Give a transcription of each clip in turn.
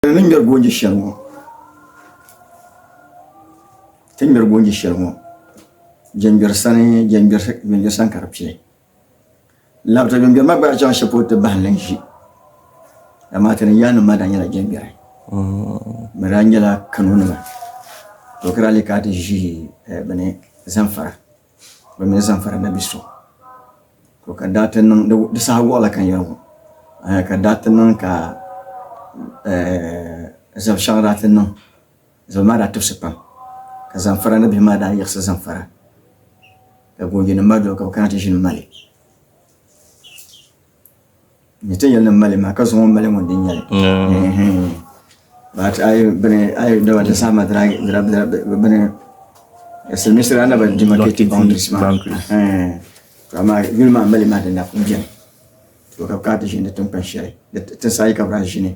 Ti ni ŋmɛri goonji shɛli ŋɔ. Ti ni ŋmɛri goonji shɛli ŋɔ. Jɛmbiɛri sani jɛmbiɛri sani ka di pili. Labita jɛmbiɛri maa gbaai chaŋ shɛli polo ti bahi n-lan ʒi. Amaa ti ni yaannim maa daa nyɛla jɛmbiɛri. Bɛ daa nyɛla Kanonima. To ka daa lee ka ti ʒi eh, bini, Zamfara. Bɛ mi Zamfara na bi so to ka daa ti niŋ di saha wɔɣila ka yɛli ŋɔ eh, ka daa ti niŋ ka eh, zabi shɛŋa daa ti niŋ zabi maa daa tibisi pam ka Zamfara ni bihi maa daa yiɣisi Zamfara ka goonjinim maa doli ka bɛ kana ti ʒini Mali Nyɛta yɛli ni mali maa ka zuŋɔ mali ŋun din nyɛli. But ayi bini ayi daba da sama dira dira dira bini siliminsiri ana ba demarcated boundaries ma. To amma yuli maa mali maa din na kun bɛni. To ka bi kana ti ʒini di tinkpan shɛli di tinsi ayi ka bi daa ʒini.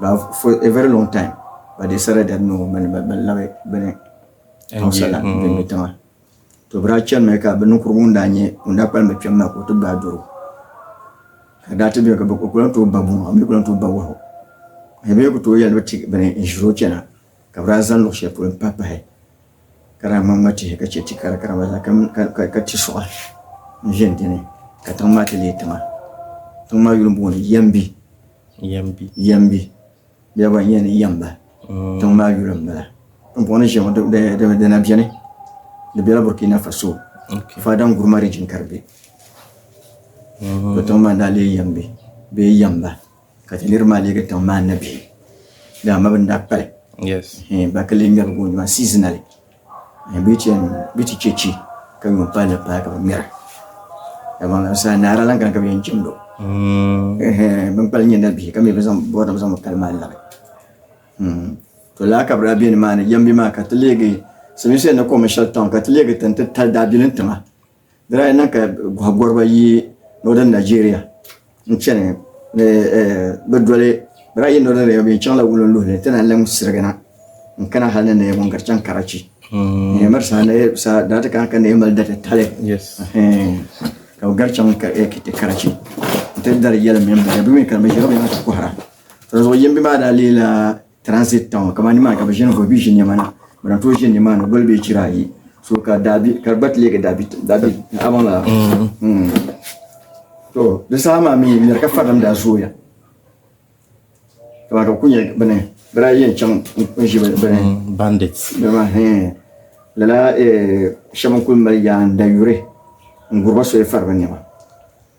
But for a very long time, but they said that no, but but but love it, but it. Hausaland, mm. Benue tiŋa. To bira chɛni mi ka bi ninkurigu ŋun daa nyɛ ŋun daa kpalim bi kpɛm maa ka o ti gbaai doro. Ka daa ti bɛ ka bi kula to ba buŋa, mi kula to ba wahu. Ka bi ku to yɛli bi ti bini n ʒiri o chɛna. Ka bɛ daa zaŋ luɣ shɛli polo m-pahi pahi ka daa ŋma ŋma tihi ka chɛ ti kara kara gba zaa ka ti suɣa n-ʒe di ni ka tiŋ maa ti leei tiŋa. Tiŋ maa yuli m-bɔŋɔ ni Yɛmbi. Yɛmbi. Yɛmbi. Bɛ daa bɔri li ni Yɛmba. Tiŋ maa yuli m-bala. Din bɔŋɔ ni ʒiya ŋɔ di na beni. Di bela Burkina Faso. Fada Nguruma Region ka di be. To tiŋ maa n-daa leei Yɛmbi bee Yɛmba. Ka ti niriba maa leegi tiŋ maa nabihi. Dama ma bɛ ni daa kpali. Yes. Eh, ba ka lee ŋmɛri goon maa seasonally. Eh, bɛ ti yɛn, bɛ ti chɛ chi ka yuun paai la paai ka bɛ ŋmɛra. Dama ŋan saa naara lan gani ka bɛ yɛn jimdi o. Eh, bɛ ni kpali nyɛ nabihi ka mi bi zaŋ bɔri nim zaŋ mi kali maa labi. Hmm. To lala ka bɛ daa be nimaani, Yambi maa ka ti leegi, Silimiinsi yɛn ni kɔŋmi shɛli town ka ti leegi ti ni ti tali daabilim tiŋa. Di daa niŋ ka gɔhigɔriba yi Northern Nigeria n-chani ni bɛ doli bɛ daa yi Northern Nigeria bɛ yɛn chaŋla Wulin luhi ni ti na n-lahi sirigina n-kana hali ni ni yɛn gari chaŋ Karachi. Miri saha daa ti kana ka ni yɛn mali datitali ka bɛ gari chaŋ Karachi nti dari yɛlim mini bɛ ya. Bɛ mi kanimi ʒiri binyɛra ti kɔhira. Dinzuɣu yimbi maa daa leela. Transit town kamani nimaani ka bi ʒini guli bi ʒi niɛma na bi na tooi ʒini nimaani guli bee chira ayi so ka daabi ka gba ti leegi daabi daabi abaŋ la mm. to di saha maa mii nyɛri ka farilim daa zooya kamani ka bi ku nyɛ bini bira yɛn chaŋ n ʒi bini mm, bandits dama lala eh, shɛba n kuli mali yaan dayuri n guriba soya fari bi niɛma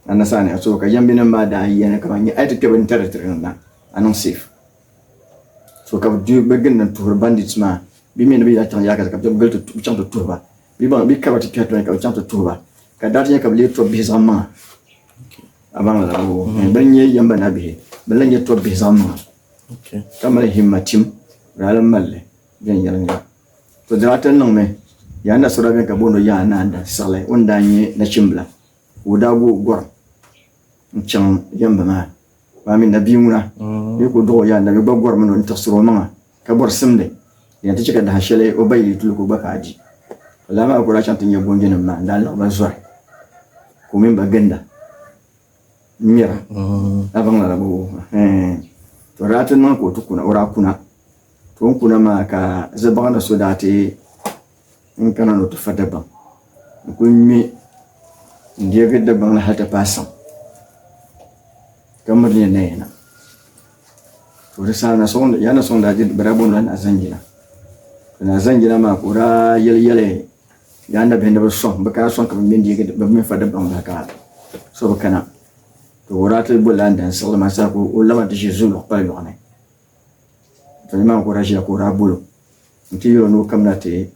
anasani so ka yɛmbinim maa daa yɛni kamani a yi ti kpɛ bi ni tari tiri niŋda a niŋ safe so ka bi bɛ ginda n tuhiri bandits maa bi mii ni bi yɛn chaŋ yaakazi ka bi chaŋ ti tuhi ba bi baŋ bi kaba ti kpɛhi tɔni ka bi chaŋ ti tuhi ba ka daa ti nyɛ ka bi lee tɔb bihi zaŋ maŋa bi ni nyɛ yɛm ba na bihi bi lahi nyɛ tɔb bihi zaŋ maŋa ka mali himma tim bi daa lahi mali li viɛnyɛlinga to dama ti ni niŋ mi yaa na so daa bɛni ka booni o yaa naa da siɣili o ni daa nyɛ nachimbila ka o daa gooi gɔrim n chaŋ yamba maa maa mi na bia ŋuna ni ku duɣi o yaa nabi gba gɔrimi ni o tiɣisiri o maŋa ka bɔri simdi yan ti chɛ ka daha shɛli o ba yi tuli ka o gba ka a di ka laa maa ku daa chaŋ ti nya goonjinim maa n daa laɣi ba zɔri ka o mini ba ginda n ŋmɛra a baŋ lala bɔbu to daa ti niŋ ka o ti kuna o daa kuna to n kuna maa ka zabaɣana so daa ti N kana ni o ti fa Dagbaŋ. N kul ŋme n-deegi Dagbaŋ ni hal ti paai saŋ, ka miri ni ya na yina. To di saha na sɔŋ, ya ni sɔŋ daa je, bɛ daa bɔŋla naa Zanjina. Ka naa Zanjina maa ka o daa yɛli yɛli ya nabihi ni bɛ sɔŋ, bɛ kana sɔŋ ka bɛ ŋme n-deegi, bɛ mi fa Dagbaŋ bahi ka so bi kana. To o daa ti bɔlla n-dan siɣili maa saha ka o laba nti ʒe zuliɣu kpali lɔɣu ni. Ka nimaani ka o daa ʒiya ka o daa bol o n-ti yɛl o ni o kamina ti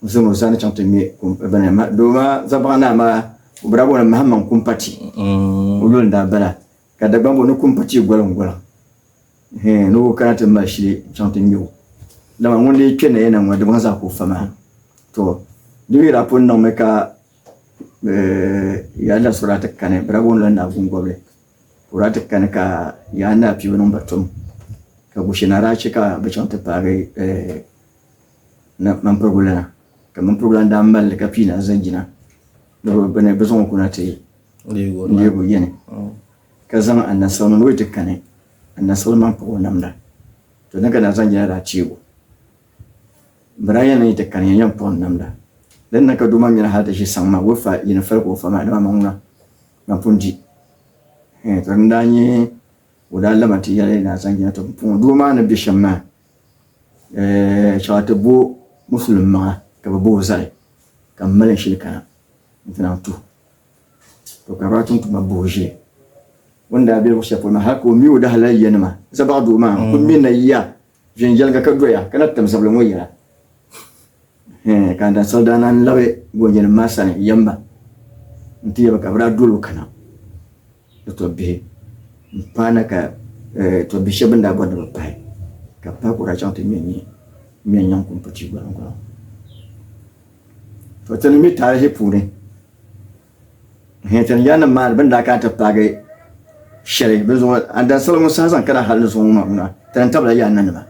zaŋ o sani chaŋ ti ŋme doo maa zabaɣa naa maa o bi daa boli Mahamaŋ Kumpati mm. o yuli n-daa bala ka Dagbaŋ boli ni Kumpati goliŋgoliŋ ni o kana ti mali shili chaŋ ti ŋme o dama ŋun dii kpe nayana ŋɔ Dagbaŋ zaa ka o fa maa to di mi daa pun niŋmi ka eh, ya la sɔrɔla ti kani bi daa boli la Naagungɔbili Kura ti kani ka Yaa Naa piibu niŋ ba tum, ka Gushe Naa daa che ka bɛ chaŋ ti paagi Mampirigu lana, ka Mampirigu lana daa mali li ka pii na zaŋ yina ni bɛ ni bɛ zaŋ o kuna ti leeg o yɛni, ka zaŋ Anasawul mini o yi ti kani Anasawul maŋ pɔb o namda, to din ka naa zaŋ yina daa teeg o, m bi daa yɛn niŋ yi ti kani ya yɛn pɔb n namda, din na ka doo maa nyɛla hal ti ʒi saŋ maa o fa yini fali ka o fa maa dama maŋ ŋuna. Ban pun di, eh, ka din daa nyɛ o daa laba nti yɛli Naa Zanjina, Tɔ, puŋɔ doo maa ni be shɛm maa, eh, shɛba ti bo Musulim maŋa ka bɛ bo o zali, ka m mali n shili kana nti lahi tuh o. Tɔ, ka Ratum tuma bo o ʒili. O ni daa be luɣ shɛli polo maa, hal ka o mi o dahalal yanima, Zabaɣ doo maa, n kul mi na ya Viɛnyɛliŋga ka doya ka na tim zabili ŋɔ yɛla. Hɛɛn, ka Andan Sali daa naan labi goonjɛnim maa sani yɛm ba nti yɛli ba ka bɛ daa dol o kana ni tɔbbihi m-paana ka tɔbbihi shɛba bɛn daa bɔri ni bɛ pahi ka bɛ pahi ka o daa chaŋ ti ŋme n-nyɛ ŋme n-nyaŋ kumputi gɔliŋ gɔliŋ. To ti ni mi taarihi puuni. Hɛɛtɛn ya nim maa ni bɛn daa kana ti paagi shɛli bɛ zuɣu Andani salo ŋun saha zaŋ kana hal ni zuɣu ŋɔ maa na, ti ni tabila ya nanima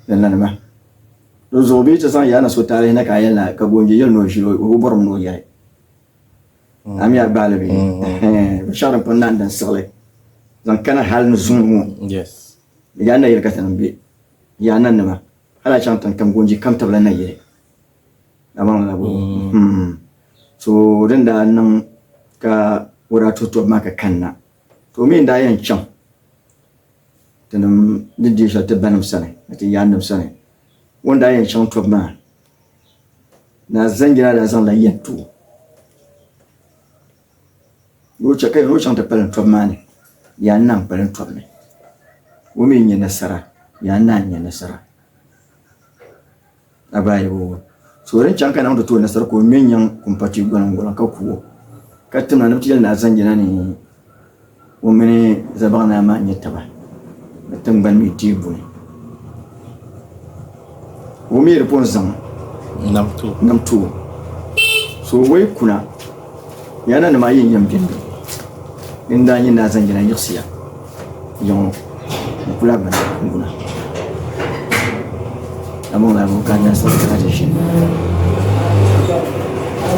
ni nanima di zuɣu bee ti zaŋ ya na so taalihi na ka a yɛli na ka goonji yɛli ni o ʒili o bɔrim ni o yɛli a mi a gbaali bɛ binshɛɣu din pun naɣim din siɣili zaŋ kana hal ni zuŋɔ ŋɔ ya nayili ka ti niŋ bɛ ya nanima hal a chaŋ tiŋ kam goonji kam tabila nayili Dama ŋuna bɔŋɔ mm-hmm. so din daa niŋ ka o daa tuhi tɔbu maa ka kanna to mi n-daa yɛn chaŋ tinim ni deei shɛli ti banim sani ni ti yaannim sani o ni daa yɛn chaŋ tɔbu maa na zanjira daa zaŋla yɛn ti o ni o chaŋ ti kpalim tɔbu maa ni yaa naa n-kpalim tɔbu ni o mi nya nasara yaa naa n-nya nasara A baa yɛbu o, So din chaŋ ka niŋdi ti o nasara ka o ŋme n-nyaŋ kumpati gɔliŋgɔliŋ ka ku o, ka timna ni bɛ ti yɛli ni a zaŋ jina ni o mini Zabaɣi Naa maa nya taba ni tiŋgbani mi dii buni. O mi di pun zaŋ nam ti o. So o yi kuna. Yaa na nima ayi n yɛn bɛni din daa nyɛ naa zaŋ yɛla yiɣisiya yaŋɔ n kula bini n guna among la abu ka nyɛnsi ka ka ʒini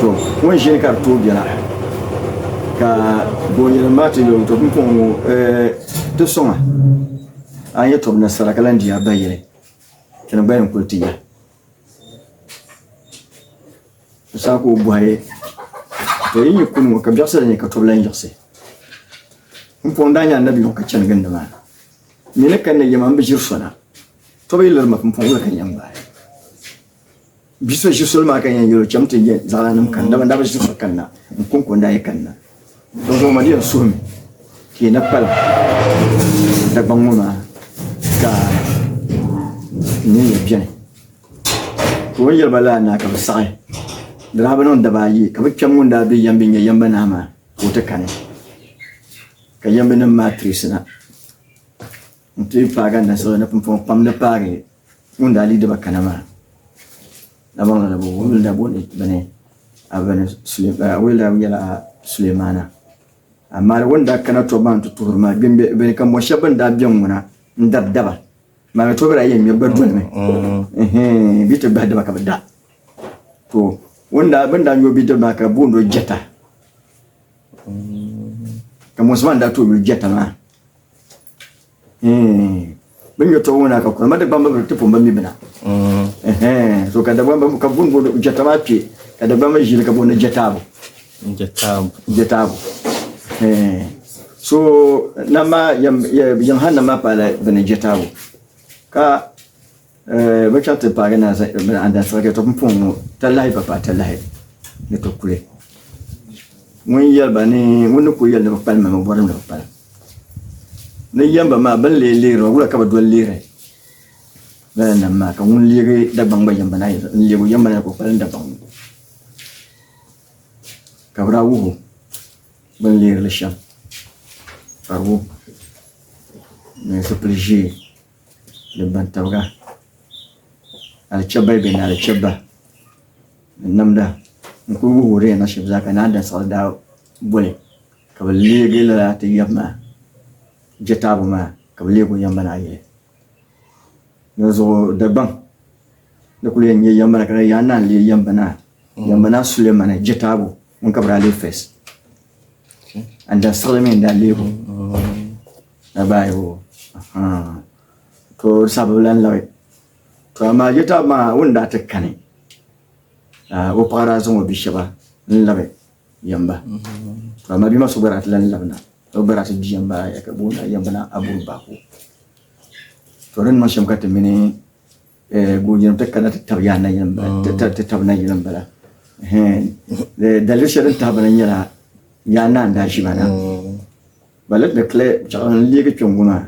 to ŋun ʒini ka di tooi bɛla ka boonyɛlim maa ti yɛli to bin pɔŋ ŋɔ ti sɔŋa a yɛ tɔbu nasara ka lan diya ba yɛli tini gba yɛn kuli ti ya Saku bɔhi to yi nyɛ kuni ŋɔ ka biɛɣisi la nyɛ ka tɔbu lan yiɣisi. M pɔŋ daa nyɛ annabi yuŋ ka chani gindi maa. Mii ni kanna yɛma m bi ʒiri sɔna. Tɔbu yi liri ma m pɔŋ wula ka n yɛn gbaai. Bi so ʒiri soli maa ka n yɛn yɛl o cham ti yɛn zaɣilana n-kani dama n daa bi ʒiri so kanna m pɔŋ ka o ni daa yɛn kanna. N zaŋ ma nɛri suhim ka yi na pali Dagbaŋ ŋɔ maa ka n nini ya beni. Ka o ni yɛli ba lala na ka bɛ saɣi di daa bi niŋ daba ayi ka bɛ kpɛm ŋun daa be yambi nya yamba naa maa ka o ti kani ka yambinim maa tirisi na. N ti paagi anasiri ni pumpɔŋɔ pam ni paagi ŋun daa lii diba kana maa. Damaŋli ni bɛ wumli la bɔni bini a bini a wuli la nyɛla Sulemaana. Amaa di wuni daa kana tɔbu maa n ti tuhiri ma gbimbi bini ka mɔ shɛba bɛn daa bɛ ŋuna n dabi daba maa ni tɔbu daa yɛn ŋmɛri ba dolimi ɛhɛɛ bɛ ti gbahi diba ka bɛ da to wuni daa bini daa nyɔ bɛ diba maa ka booni o jɛta ka mɔsi maa daa to yuli jɛta maa. Mm. Bin yo tɔbu ŋuna ka kurama Dagbamba bi ti pun ba mi bina. Mm. So ka Dagbamba ka bun booni jɛta maa kpe ka Dagbamba ʒili ka booni jɛtaabu. Jɛtaabu. Jɛtaabu. So nam maa yɛm han nam maa paala bini jɛtaabu ka Eh, bɛ chaŋ ti paagi naa zaŋ irbin an dan sɔhigɛ to pumpɔŋ ŋɔ talahi ba paai talahi ni to kuli ŋun yɛli ba ni ŋun ni ku yɛli ni bi kpalim ma mi bɔri ni bi kpalim ni yɛm ba maa bin lee leeri wula ka bi doli leeri lala nam maa ka ŋun leegi dagbaŋ gba yɛm ba naa yɛli n leegi yɛm ba naa ka o kpalim dagbaŋ ŋɔ ka bi daa wuhu bin leeri li shɛm ka di wuhi ni zipili ʒee ni bantabiga alichɛba bɛni alichɛba ni namda n kuli wuhi wuhi di yɛn na shɛm zaa ka naan da saɣiri daa boli ka bi leegi lala ti yaba maa je taabo maa ka bi leegi o yaba maa yili di zuɣu Dagbaŋ di kuli yɛn nyɛ yaba la ka di yɛn naan leei yaba naa yaba naa Sulemana je taabo ŋun ka bi daa leei fɛs and da siɣili mi n daa leegi o. na baa yi o to sabu lan labi to amaa je tabi maa wun daa ti kani ka o paɣa daa zaŋ o bi shɛba n labi yamba to amaa bima so gba daa ti lan labi na o gba daa ti bi yamba ya ka booni yamba na aburu baako to din niŋ shɛm ka ti mini Goonjinim ti kana ti tab yaa nayilim bala, ti tab nayilim bala. Daliri shɛli din tahi bana nyɛla yaa naa n-daa ʒi ba na. Ba lati ni kli piɛɣu n leegi kpe ŋ-ŋɔ maa,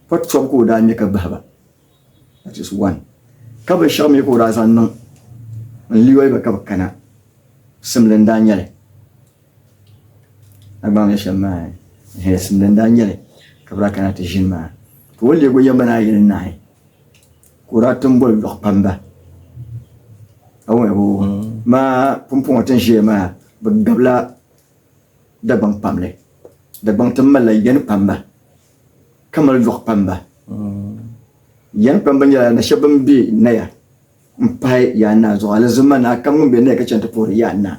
pɔt tɔbu ka o daa ŋme ka bahi ba. That is one. Ka binshɛɣu mi ka o daa zaŋ niŋ n-liɔi ba ka bɛ kana, simli n-daa nyɛli. Dagbaŋ ni shɛm maa hɛlisimdi n-daa nyɛli ka bɛ daa kana ti ʒini maa, ka o leegi o yɛmma ni ayi ni nahi ka o daa tim boli lɔɣu kpamba. Awɛbo maa pumpɔŋɔ ti ni ʒiya maa bɛ gabila Dagbaŋ pam li. Dagbaŋ tim malila yani kpamba ka mali lɔɣu kpamba. Yani kpamba nyɛla nashɛba bɛn be Naya m-pahi Yaa Naa zuɣu Alizama Naa kam ŋun be Naya ka chani ti puhiri Yaa Naa.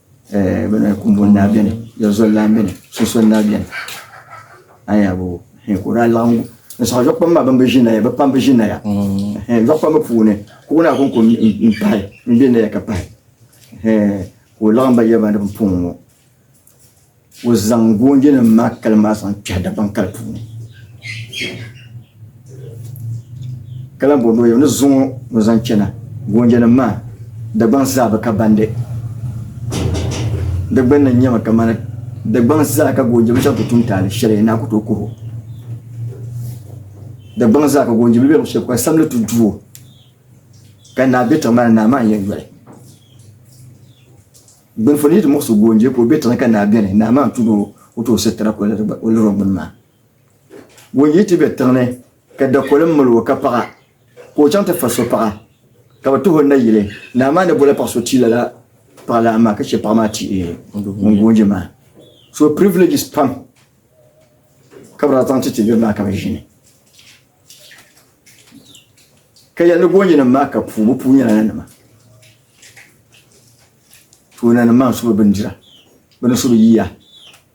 eh, bɛ na kumbun naa beni yɛlizol lan beni sunsol naa beni ayabo he ka o daa laɣim n sɔŋ zuɣu kpam maa ban bi ʒi naya bɛ pam bi ʒi naya he zuɣu kpam puuni ka o naa kon ko n pahi n be naya ka pahi he ka o laɣim ba yɛba ni bin puŋ ŋɔ O zaŋ goonjinim maa kali maa zaŋ kpɛhi Dagbaŋ kali puuni ka lan bɔri ni o yɛm ni zuŋɔ ni zaŋ chana goonjinim maa Dagbaŋ zaa bi ka bandi di gbunni nyɛmi kamani Dagbaŋ zaa ka goonji bi shɛba ku tum taali shɛli naa ku tooi kuhi o Dagbaŋ zaa ka goonji bilibiɛlim shɛba kuli samli ti du o ka naa be tiŋ maa ni naa maa n-yɛn yoli Gbilifo ni yi ti muɣi so goonje ka o be tiŋa ka naa beni, naa maa n-tugi o, o ti o sitira ka o liri o ŋuni maa. Goonje yi ti be tiŋ ni ka dakoli mil o ka paɣa, ka o chaŋ ti fa so paɣa, ka bɛ tuhi o nayili, naa maa ni boli paɣ so ti lala paɣ lan maa ka chɛ paɣ maa ti ŋun goonje maa. So privileges pam ka bɛ daa zaŋ ti ti niriba maa ka bɛ ʒini. Ka yɛli ni goonjenim maa ka puu, bɛ puu nyɛla nanima. Tooni ni maŋ so bi bindira bi ni so bi yiya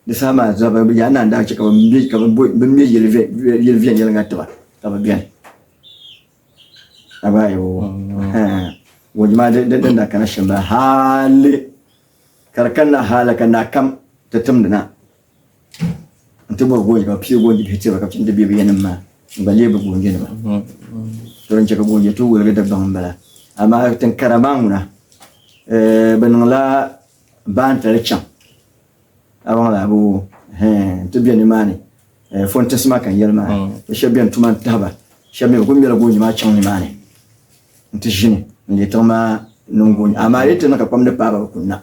di saha maa zaa bi yaa naan daa chɛ ka bi ŋmɛ yili viɛnyɛliŋga tiba ka bi biɛni abayi waji maa din da kana shɛm bala haali ka di kanna haala ka naa kam ti timdi na n ti bɔri goonjinima pii goonji bihi tiri ba ka bi chani ti bɛ bɛ yanim maa n gba leei bɛ goonjinima to din chɛ ka goonji tuhi woligi Dagbaŋ m-bala amaa tiŋkara maa ŋuna bɛ niŋla baantali chaŋ a bɔŋɔ la bɛ wo hɛɛn n ti be nimaani fɔntinsi maa ka n yɛli maa bɛ shɛba beni tuma n-tahi ba shɛba mi bɛ kuli mela goonji maa chaŋ nimaani n ti ʒini n-leei tiŋ maa niŋ goonji amaa a yi ti niŋ ka kpam ni paai ba bɛ kuli na.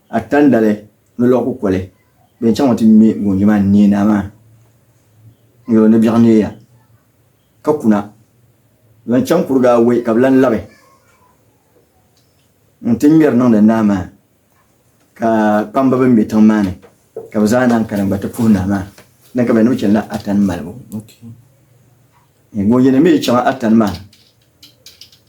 A tandali ni lɔɣu kukoli din chaŋ ti ŋme goonji maa n-neei naa maa n-yɛl o ni biɛɣu neei ya, ka kuna lan chaŋ kuriga awɔi ka bɛ lan labi n-ti ŋmɛri niŋdi naa maa, ka kpamba bɛn be tiŋ maa ni ka bɛ zaa naan kana n-gba ti puhi naa maa ni ka bɛ ni bi chani la Atani malibu. Goonjinima mi chaŋ Atani maa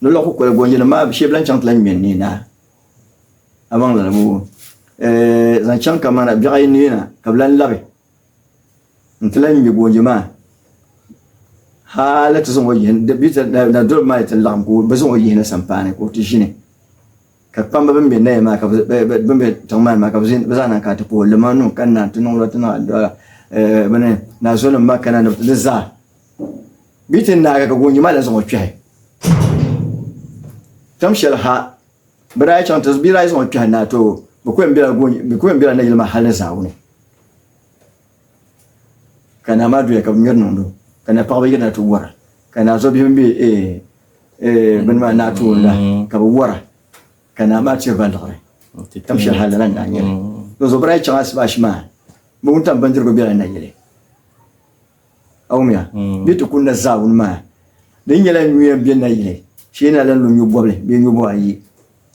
Ni lɔɣu kukoli gɔnjinima maa shee bɛ lahi chaŋ ti lahi ŋme n neei naai a maŋ lala ŋɔ ɛɛh zaŋ chaŋ kamana biɛɣ ayi neei na ka bɛ lahi labi nti lahi ŋme gɔnji maa hali ti zaŋ o yihi nadoliba maa yi ti laɣim ka bɛ zaŋ o yihi na sampaani ka o ti ʒini ka kpamba bɛn be naya maa bɛn be tiŋmaani maa ka bɛ zaa na kana ti puhi o limanim ka naa ti niŋ o la ti niŋ addu'a bini naa zulinim maa kana ni zaa bɛ ti naagi ka goonji maa la zaŋ o kpɛhi tam shɛli ha bɛ daa chaŋ ti bɛ daa zaŋ o kpɛhi naa to bɛ ku yɛn bela goonji bɛ ku yɛn bela nayili maa hali ni zaawuni ka naa maa doya ka bɛ ŋmɛri niŋdo ka na paɣaba yirina ti wara ka naa zo bihi bɛ bini maa naa toon la ka bɛ wara ka naa maa tiri ba liɣiri tam shɛli ha lala naa nyɛli bɛ zo bɛ daa chaŋ asibashi maa bɛ wuntaŋ bindirigu bela nayili Awumya, bɛ ti kunda zaawuni maa di nyɛla nyuya bɛ nayili shee na lan lo nyobɔbili bee nyobɔb ayi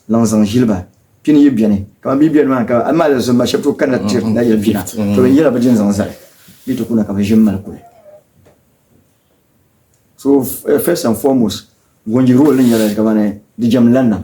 lan zaŋ ʒili ba. Pini yi beni, kaman bɛ yi beni maa ka amaa di zuɣu ma shɛb tooi kanna ti tiri nayili pina, to bɛ yɛla bɛ din zaŋ zali bɛ ti kuna ka bɛ ʒini mali kuli. So first and foremost, Gonji role ni nyɛla kamani di jɛm lan nam.